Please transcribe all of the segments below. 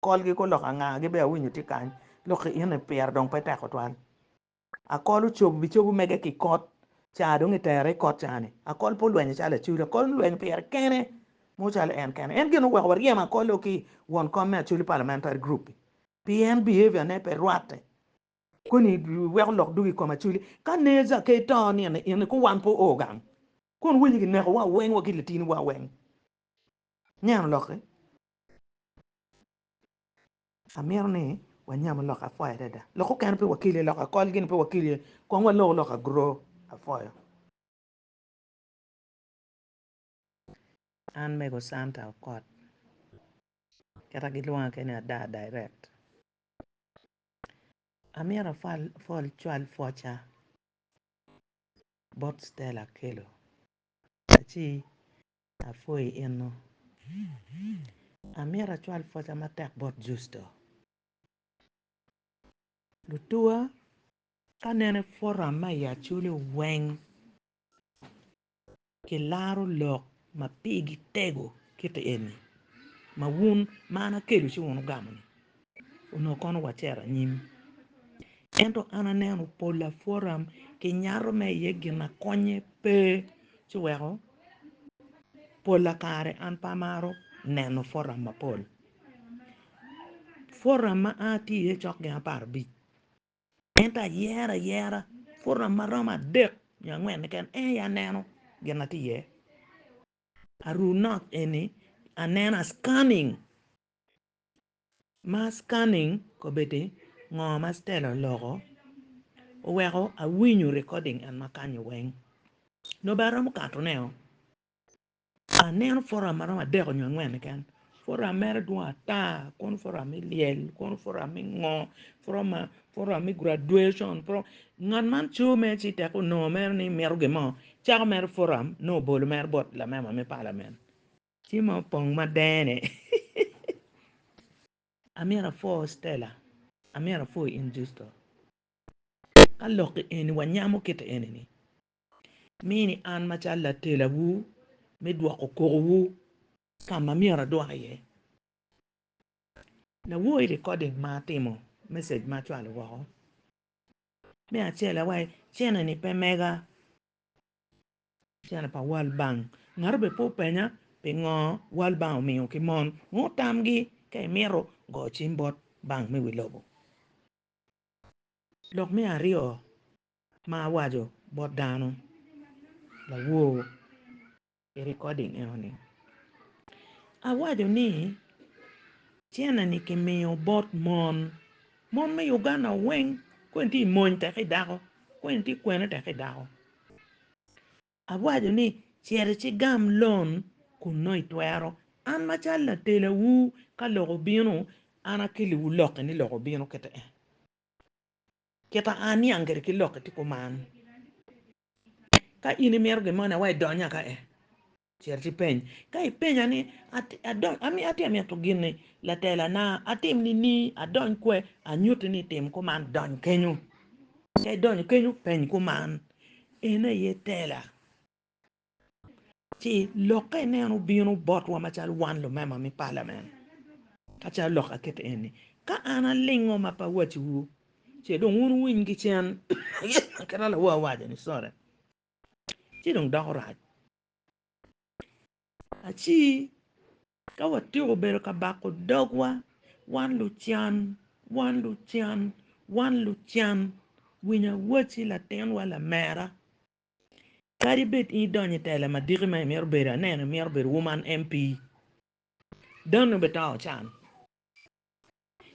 Kolgi ko lok anga? Gi bene awinyo tye kany lok ki in ni pire dong pe tek tutwal. Akol ocob bi cobu mege ki kot caa dong itere i kot caa ni. Akol pe olwenyo calo Acoli. Akol olwenyo pire kene mo calo en kene. En gin oweko waryem Akol o ki won kom me Acholi Parliamentary Group i. Pien behavior ne pe rwatte. Koni iweko lok dog i kom Acholi. Ka Neza ke ito nino in ni ko wan pe oo gang. Kong winy ki neko wa weng wa ki latini wa weng. Aneno lokke. Amito ni wanyam lok apwoyo adada. Lok okene pe wakil iye, lok akol gini pe wakil iye. Kong walok lok agro apwoyo. An mego Santa Okot. Kita gilwonga kene Adaa Direct. Amito afwal afwal cwal pwoca bot Stella Akello. Aci Apwoyi eno. Amito acwal pwoca matek bot Justo. Lutuwa ka neno i puram ma i Acholi weng kilaro lok ma pigi tego kiti eni ma wun ma an akelu ci wun wugamo-ni. Onongo kono wacito anyim. Ento an aneno pol apwota ki nyato ma iye gin akonnye pe ci weko pola kare an pe amaro neno pwogram mapol. Pwogram ma an atye iye cok gin apar abic ento ayero ayera pwogram ma romo adek nyo angwen keken en aye aneno gin ma tye iye. Aru not eni aneno scanning. Ma scanning kobedi ngo ma Stella oloko oweko awinyo recording en makanyo weng nobe aromo kato ne o aneno foram maromo adek onyo angwen keken foram mere dwong ata kono foram me lyel kono foram me ngo foram me graduation ngat man co mere ci tek onongo mere ni mito gin mo cako mere foram nongo obolo mere bot lamema me parliament. Ci ma opong ma dene. Amyero apwo Stella, amyero apwo in Justo. Ka lok eni wanyamo kite eni ni, mini an macalo latelawu me dwoko kokowu ka ma myero adwok iye. Lawoyi recording ma atimo, message ma acwalo woko, me acel awaci, Cene ni pe mega. Cene pa World Bank. Ngat obed pe openya pingo World Bank omiyo ki mon ngut tamgi ka imito goyo cim bot Bank me wi lobo. Lok me aryo ma awaco bot dano lawor i recording enoni, awaco ni cene ni kimiyo bot mon. Mon me Uganda weng kweni tye i mony tek ki dako, kweni tye kwene tek ki dako. Awaco ni, 'Cit icigam lon kun nongo itwero. An macalo latelawu, ka lok obino, an akeliwu lokki ni lok obino kite en. Kita aniang kwede ki lokki tye kuman. Ka in imito gin moni, awaco idony aka en. Cit ipeny. Ka ipenya ni, 'Ami atye mito gin-ni, laterana, atim nining? Adony kwe? Anyutti ni tim kuman, dony kenyu. Ka idonyo kenyu, peny kuman, 'En aye tela? Ci lokke ineno bino botwa macalo wan lumema me palamen. Ka calo lok akette eni, ka an alingo ma pe awacciwu, ce dong wun wuwiny ki cen kit ma lawa owaco-ni. Sorry. ci dong doko rac. Aci ka watyeko bedo ka bako dogwa wan lucan wan lucan wan lucan winy awaci latinwa lamera kadi bed in idonyo i tela madiki ma imito bedo aneno imito bedo woman MP dano bene to ocan.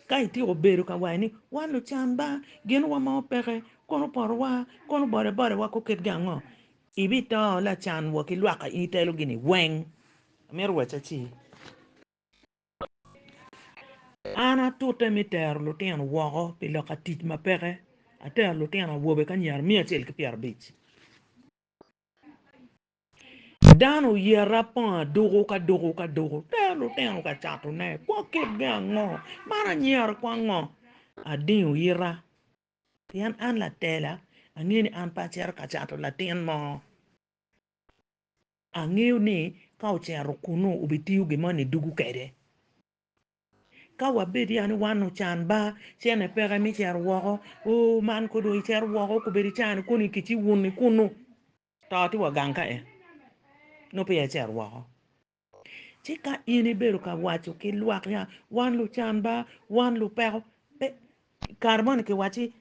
Ka ityeko bedo ka wayo ni, 'Wan lucan ba, gin wamao peke, kono porowa, kono bodebodewa kong ketgi ango? ibito lacan wa ki lwaka in itelo gini weng. Amito wacce aci, an atute me tero lutino woko pi loka tic ma peke, atero lutino awobe ki anyira miya acel ki pyerabic. Dano oyere apong aduku ka duku ka duku tero lutino ka catone kwo kitgi ango? Man anyero ki ango? Adingo ita pien an latela angeyo ni an pe acito ka cato latin mo angeyo ni ka ocito kunu obitiyo gin moni dugu kwede. Ka wabed ya ni wan ocan ba, cene peke mi cito woko. Ooh man ko dong icito woko kobedo icani koni ki ci wuni kunu. To ti wa gang ka en nongo peya icito woko. Ci ka in ibedo ka waco ki lwak ya wan lucan ba, wan lupeko, pe kare moni ki wacci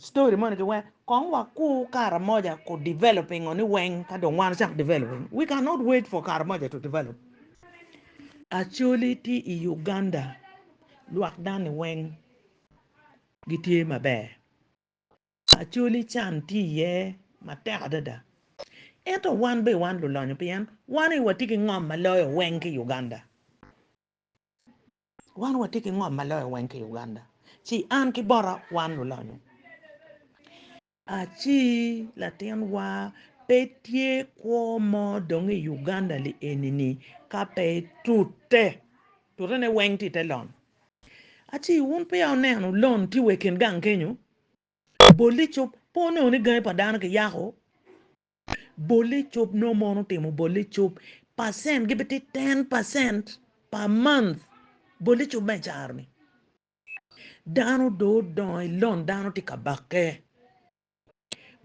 Story moni ki wek kong wa kur kara moja ku developing ngo ni weng ka dong wan chak developing. We cannot wait for kara moja to develop. Acholi ti i Uganda lwak dani weng gi tye maber. Acholi can ti iye matek adada. Ento wan be wan lulonyo pien wan aye wa ti ki ngom ma loyo weng ki Uganda. Wan watye ki ngom ma loyo weng ki i Uganda, ci an ki bota wan lulonyo. Aci latinwa pe tye kwo mo dong i Uganda li eni ni ka pe tute, tute ne weng tye i te lon. Aci wun peya wuneno lon tye wa i kin gang kenyo, bol icub pe onongo ni gangi pa dano ki yako Bolle cob nongo mon otimo bolle cob percent gi biti ten percent per month bolle cob me caro ni dano do odongo i lon dano ti ka bakke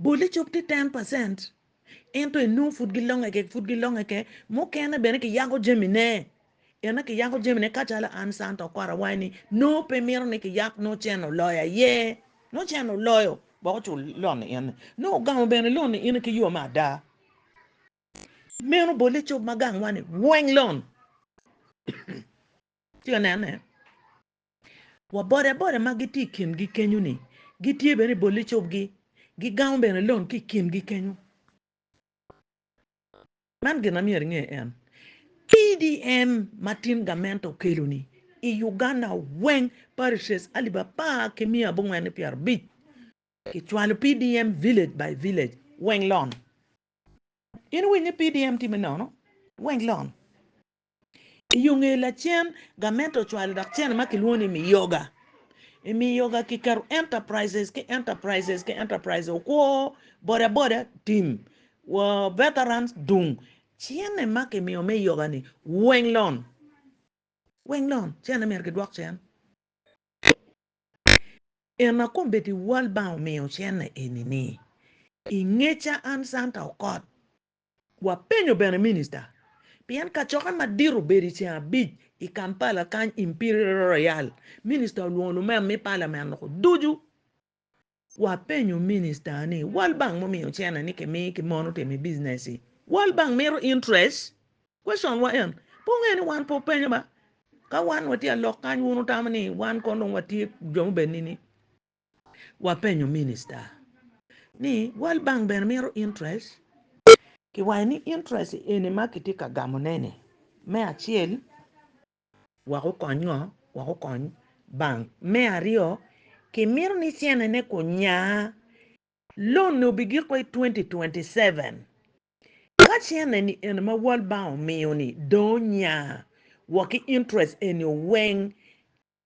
bolle cob ti ten percent ento enongo pud gilonge kek pud gilonge kek mukene bene ki yako jami ne. En aye kiyako jamine kacalo an Santa okwara wai ni nongo pe mito ni kiyak nongo cen oloyo aye nongo cen oloyo gwok ocul loan ni in ni nongo ogamo bene loan ni in ni ki yoo me ada meno bole icob ma gang wa ni weng loan tye ka nene wa boda boda ma gitye i kin gi kenyo ni gitye bene i bole icob gi gigamo bene loan ki i kin gi kenyo. Man gin ma myero inge en, PDM ma tin gament okelo ni i Uganda weng parishes alip apar ki miya abongwen ki pyera abic ki cwalo PDM village by village weng lon. In iwinyo ni PDM time nono? Weng lon. I yo nge lacen, gamente ocwalo dok cene ma kilwongo ni Miyoga. I Miyoga kiketo enterprises ki enterprises ki enterprises, okwo, bodaboda, tim, wa veterans, dung. Cene ma kimiyo me yoga-ni weng lon, weng lon, cene myero kidwok cen. Ena kombeddi World Bank omiyo cene eni-ni, i ngeca an Santa Okot, Wapenyo bene Minista, pien kacokke madit obedo i ceng abic i Kampala kany Imperial Royal, Minista olwongo lumem me Palamen loko ducu. Wapenyo Minista ni, World Bank mumiyo cene ni kimi ki mon otim i business-ci, World Bank mito interest? Question wa en, pe wungeyo ni wan pe wupenyo ba? Ka wan watye alok kany wun wutamo ni wan kong dong watye jo mubed nini? wapenyo minista ni World Bank bene mito interest? Kiwaco ni interest eni ma kitye ka gamone-ni me acel wek okony ngo? Wek okony bank. Me aryo kimito ni cene-ne ku nya, loan-ni obigiko i twenty twenty seven. Ka cene-ni eni ma World Bank omiyo-ni dong onya wa ki interest eni weng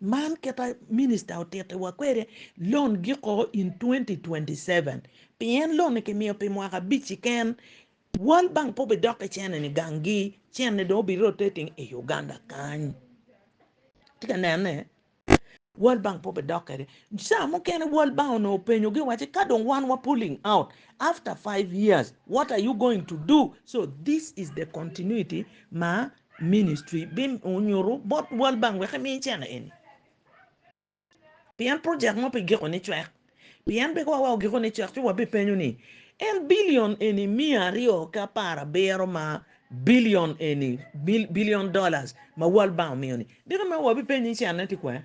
Man kita minista otiti wa kwede loan giko in twenty twenty seven pien loan ni ki miyo pi mwaka abic ki ken world bank pe obi dok ki cene ni gang gi cene ni dong obi rotating i Uganda kany itye ka nene world bank pe obi dok kwede caa mukene world bank onongo openyo gi waci ka dong wan wa pulling out after five years what are you going to do so this is the continuity ma Ministry bi nyutu bot World Bank wek emi cene eni. Pien project mo pi giko ni cwek. Pien pe wa ogiko ni cwek ci wa bi penyo ni en billion eni miya aryo ki apar abiro ma billion eni, billion dollars, ma World Bank omiyo ni, diki ma wa bi penyi cene ti kwene?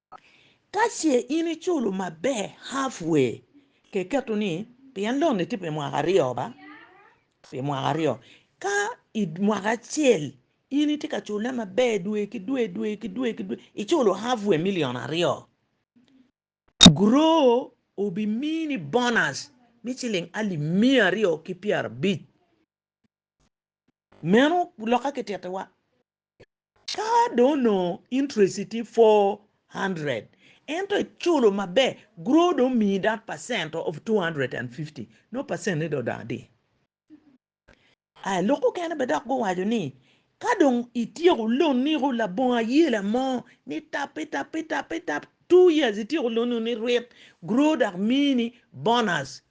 Ka ce in iculo maber half way ke keto ni pien loan ni tye pi mwaka aryo ba pi mwaka aryo ka i mwaka acel in itye ka cule maber dwe ki dwe dwe ki dwe ki dwe iculo half way million aryo grow obi mini bonus me ciling alip miya aryo ki pyera abic meno loka ki titiwa. Ka dong onongo interest-ti tye 400, ento iculo maber, grow dong omiyi that percent of 250, nongo percent-ni dong odok adi? Aya, lok mukene bene dok guwaco ni, ka dong ityeko lonni ku labongo ayela mo, ni tap, itap, itap, itap, two years ityeko lonni wuni ryt, grow dok miyi ni bonus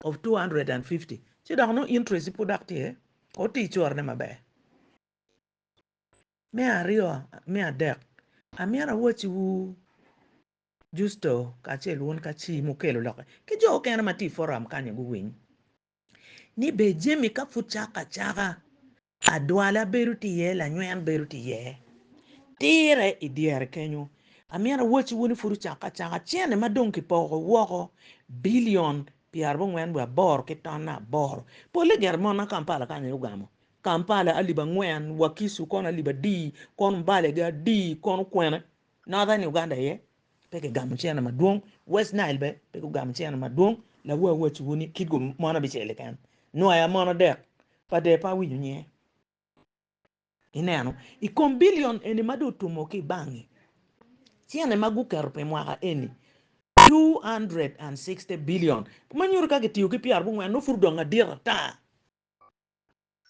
of 250, ci dok nongo interest-ti pud dok tye, otir corone maber. Me aryo, me adek, amyero awacciwu Justo kacel wun ka ci mukelo lokke ki jo mukene ma tye i foram kany-ni guwiny ni bene jami ka pud cako acaka, adwala bedo tye iye, lanyweny bedo tye iye. Tirre i dyere kenyo, amyero awacciwu ni pud ocakke acaka, cene ma dong kipoko woko bilion pyerabongwen wiye aboro ki tonne aboro, polle gire mon ma Kampala kany aye ogamo Kampala alip angwen, Wakisu kono alip adi, kon Mbale gi adi, kono kwene. Northern Uganda aye pe kigamo cene madwong, West Nile bene pe gugamo cene madwong, lawu awacciwu ni kit gu mon abicel keken, nwaia mon adek pa de pe awinyo nyinge. Ineno, i kom billion eni ma dong otumo ki i bank-ngi, cene ma guketo pi mwaka eni, two hundred and sixty billion, ma nyuto ka kitiyo ki pyerabongwen nongo pud odong adit ata.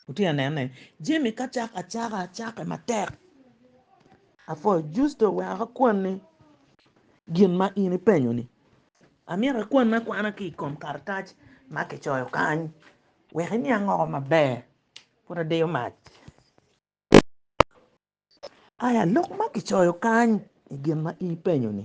Wutye ka nene, jami ka cako acaka, acakke matek. Apwoyo Justo wek akwanni gin ma in ipenyo-ni. Amyero ikwanni akwana ki i kom karatac ma kicoyo kany wek iniang woko maber. Pud adiyo mac. Aya, lok ma kicoyo kany i gin ma in ipenyo-ni.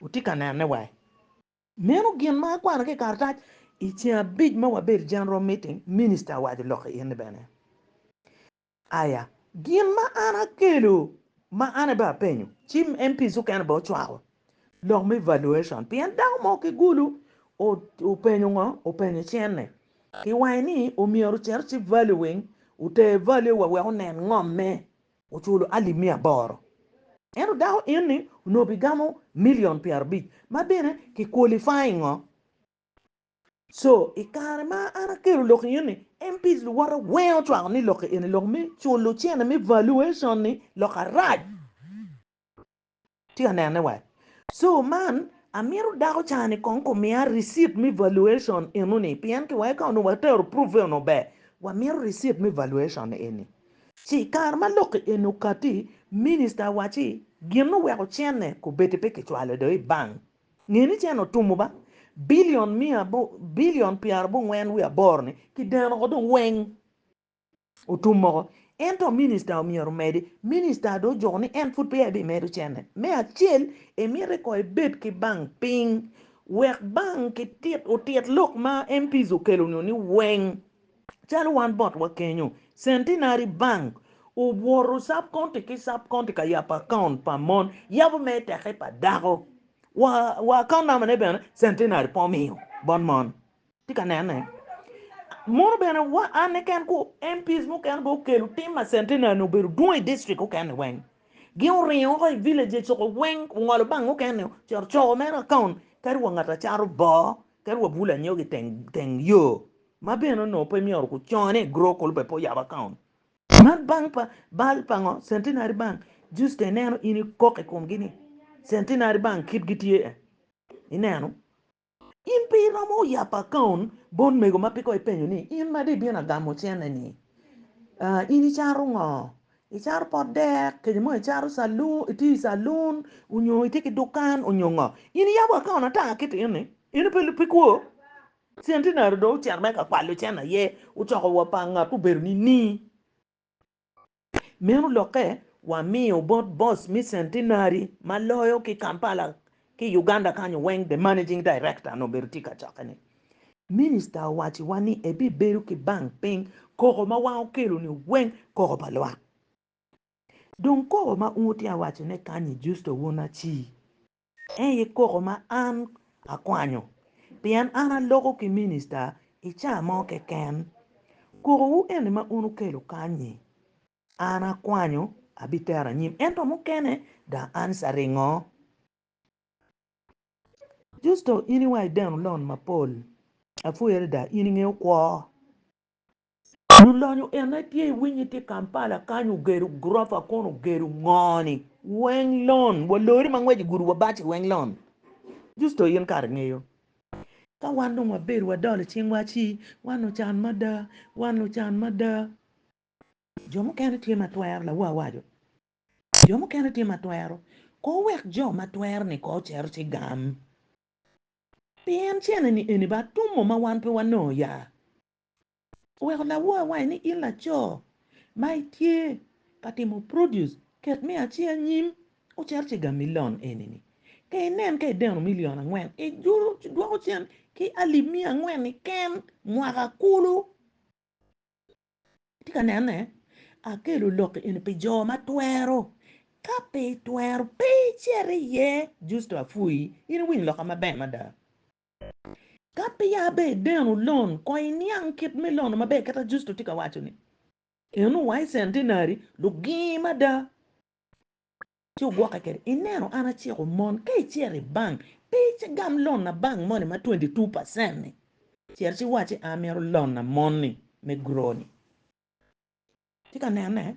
Wutye ka nene wa? Meno gin ma akwano ki i karatac. I ceng abic ma wabedo i General Meeting, Minista owaco lok ki in ni bene, Aya, gin ma an akelo ma an aye bene apenyo, ci MPs okene bene ocwako lok me evaluation pien dako mo ki Gulu openyo ngo? Openyo cene ki wange ni omyero ocito ci valuing, oter value wa wek onen ngomme oculo alip miya aboro, ento dako enni onongo bigamo million pyerabic ma bene ki qualifying ngo so i kare ma an akelo lok enni MPs luwote weng ocwako ni lok enni lok me culo cene me valuation ni lok arac. Tye ka nene wa. So man amito dako ca ni kong kumiya receipt me valuation eno ni pien ki weko ka onongo wa tero proof eno maber wa mito receipt me valuation eni. Ci i kare ma lok ki eni okati minister owaci gin ni oweko cene kubedi pe ki cwalo do i bank. Nge ni cene otumo ba billion miya billion pyera bongwen wiye aboro ni ki deno oko dong weng. Otum moko. Ento minista omyero omedi. Minista dong ojoko ni en pud peya ebimedo cene. Me acel, emiti ko ebed ki bank piny wek bank kitit otit lok ma MPs okelo nyo ni weng. Calo wan botwa kenyo, Centenary Bank owoto sub county ki sub county ka yabo account pa mon, yabo me teke pa dako, wa account number ne bene Centenary pe omiyo bot mon. Tye ka nene. Mono bene wa anne ken ku MPs mukene bene okelo tim ma Centenary-ni obedo dwong i district okene weng. Gin oringo woko i villages coko weng ongolo bang okene-o cito coko mere account kadi wa ngat acato boo kadi wa bulo anyogi i teng teng yo ma bene onongo pe myero ku cone i grow kulu bene pe oyabo account. Man bank pa bal pa ngo? Centenary Bank. Just ineno in ikok i komgi ni Centenary Bank kit gitye-e. Ineno? In pe iromo yabo akaon bot mego ma peko ipenyo ni, 'In ma dong ibino agamo cene-ni, in icaro ngo? Icaro pot dek, kece mo icaro calun, itiyo i calun, onyo itye ki dukan, onyo ngo? In iyabo akaon ata kit eni? Eno pe pe kwo. Centenary dong ocito mere ka kwalo cene aye, ocoko wa pa ngat ma obedo nining? Meno lokke wamiyo bot boss me Centenary ma loyo ki Kampala ki Uganda kanyo weng the managing director nongo obedo tye ka cokke ni Minister owaci wa ni ebibedo ki bank piny koko ma wan okelo ni weng koko pa lwak. Dong koko ma un wutye awaco ne kanyi Justo Won Acii. Ei i koko ma an akwanyo, pien an aloko ki minista i caa mo keken. Koko wu eni ma un wukelo kanyi, an akwanyo abi tero anyim, ento mukene da an sa ringo. Justo in iwa ideno lon mapol, apwoyere da in ingeyo kwo. Lulonyo ene tye i winyi tye Kampala kany ogedo gurofa kono ogedo ngo ni? Weng lon wa lori ma ngwec igudu wa baci weng lon justo in kara ingeyo ka wan dong wa bedo wa dolo cing wa ci wan lu can mada wan lu can mada jo mukene tye ma twero lawa awaco jo mukene tye ma twero ko wek jo ma twero ni ko ocito ci gam pien cene ni eni ba tum mo ma wan pe wa nongo ya Oweko lawor awange ni, In laco ma itye ka timo produce, ket me aci anyim ocer ciga milion eni-ni. Ka inen ka ideno milion angwen, idwoko cen ki alip miya angwen-ni ken mwaka kulu. Itye ka nene? Akelo lok eni pi jo ma twero. Ka pe itwero, pe icit iye! Justo apwoyi. In iwinyo lokka maber mada. Ka peya be ineno lon, kong iniang kit me lono maber kit ma Justo tye ka waco-ni. Eno wa i centenary, lugingi mada ci ogwokke kwede. Ineno an aciko mon, ka icito i bank, pe igam lon na bank moni ma twenty two percent-ni, cito ci iwac ni an amito lon na moni me grow-ni. Itye ka nene?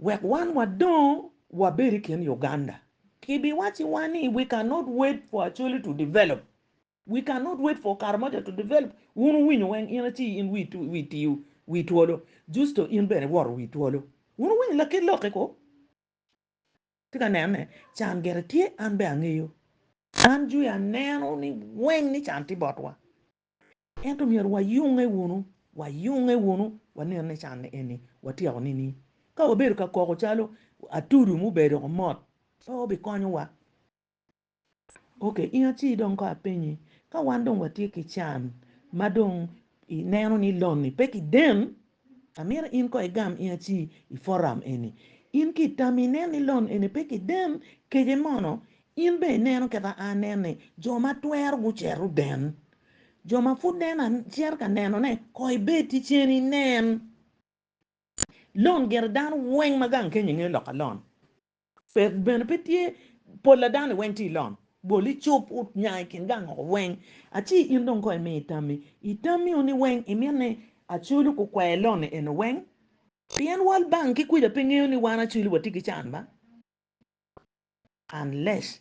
Wek wan wadong wabed i kin Uganda, kibiwacciwa ni we cannot wait for Acholi to develop, we cannot wait for Karamoja to develop. Wun wuwinyo weng in aci in wi tiyo wi twolo, Justo in bene iwoto wi twolo. Wun wuwinyo lakit lok-ki ko? Atye ka nene, can gire tye, an bene angeyo. An jwi aneno ni weng ni can tye botwa. Ento myero wayunge wunu, wayunge wunu, wanen ni canne eni watyeko nining? Ka wabedo ka koko calo atudu mubedo ko mot, pe obikonyowa. Oke, in aci dong kong apenyi, ka wan dong watye ki can ma dong ineno ni lon-ni pe kiden, Amito in ko igam in aci i forum eni. In ki i tami inen ni lon eni pe kiden kece mono in bene ineno kit a anen ni jo ma twero gucero den. Jo ma pud nen a cero ka neno ne ko ibed ticen inen. Lon gire dano weng ma gang kenyo inge lok a lon. Pe, bene pe tye pol a dano-ni weng tye i lom. Bol icup ut nya i kin gang woko weng, a ci in dong kong imi tammi. I tammi-ni weng imit ni Acwelu gukwer lon-ni eno weng? Pien World Bank ki kuca pe ngeyo ni wan Acwelu watye ki can ba? Unless.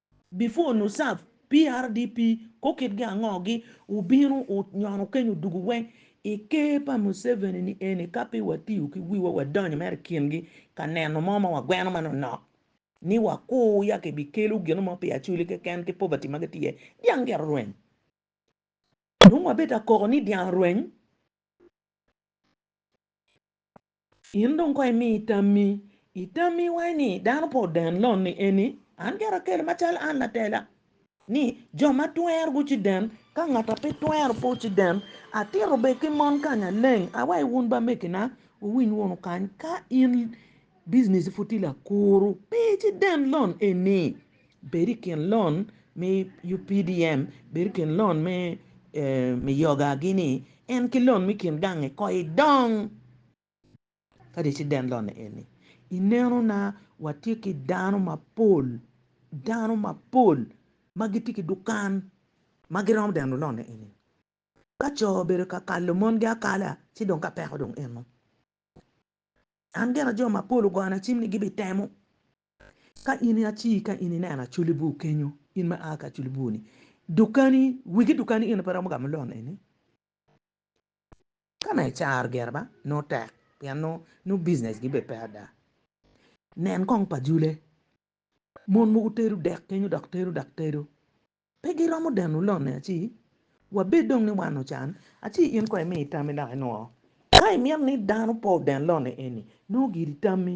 Before nu serve PRDP ko kit gi ango gi wubino wu nyono keny odugu weng I ker pa Museveni ni eni ka pe wa tiyo ki wiwa wa donyo mere I kin gi ka neno mo ma wa gweno manok nok ni wa kur ya ki bi kelo gino mo pi Acholi keken ki poverty ma gi tye dyang gito rweny dong wa bed ka koko ni dyang orweny. In dong kong imi tammi. I tammi iwaco ni, 'Dano pe oden lon-ni eni, an gire akele macalo an latela. Ni, jo ma twero guciden, ka ngat a pe twero pe ociden. Atito bed ki mon kany aleng. Awaco wun ba mekina, wuwiny wunu kany, ka in bijinici pud tye lakuru, pe iciden lon eni. Bed i kin lon me UPDM, bed i kin lon me me yoga gi ni en ki lon me kin gange ko i dong kadi ci den lon eni i neno na wa tye ki dano mapol dano mapol ma gi tye ki dukan ma gi romo deno lon eni ka co obedo ka kalo mon gi akala ci dong ka peko dong en mo an gena jo mapol ogona cim ni gi bi temo Ka in i aci ka in ineno acoli bur kenyo in ma aa ki acoli bur ni dukani wigi dukani in pe romo gamo loan eni ka mere caro gire ba nongo tek pien nongo business gi bene pe ada nen kong pa jule mon mogo tedo dek kenyo dok tedo dok tedo pe giromo deno loan ni aci wabed dong ni wan ocan aci in kong imi tammi dok inwo ka imito ni dano pe oden loan eni nongo giri tammi.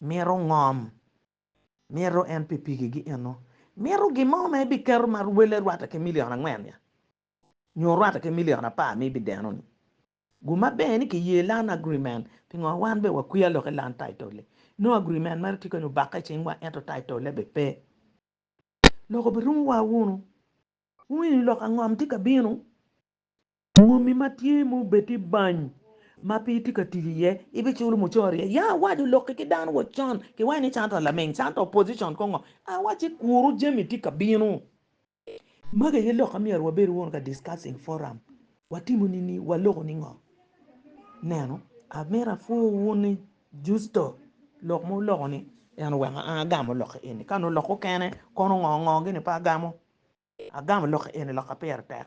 Mito ngom. Mito en pi pigigi eno. Mito gin mo ma ebiketo ma rwele rwatte ki milion angwen nya, nyo rwatte ki milion apar ma ibideno-ni. Guma ber ni kiye Land Agreement. Pingo wan bene wakwiya lok i Land Title-li? Nongo agreement mere tye kany obakke i cingwa ento title-le bene pe. Lok obirumowa wunu. Wungeyo ni lok angom tye ka bino? Moni ma tye ma obed i bany ma pe itye ka tic iye, ibiculo mucoro iye? Ya iwac olokki ki dano wacon, kiwaco ni Santa laming, Santa opposition kong ngo? A wac ci kuru jami tye ka bino. Magi aye lok ma myero wabed wunu ka discussing forum, watimo nini, waloko ningo? Neno, amito apwoo wun ni Justo lok ma wuloko ni en oweko an agamo lok eni, ka nongo oloko kene kono ngo ngo gini pe agamo, agamo lok eni lok ma pire tek.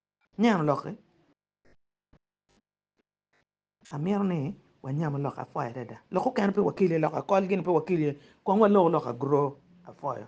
Nyano lokke. Amito ni wanyamu lok apwoyo adada. Lok okene pe wakil iye, lok akol gini pe wakil iye. Kong walok lok agro apwoyo.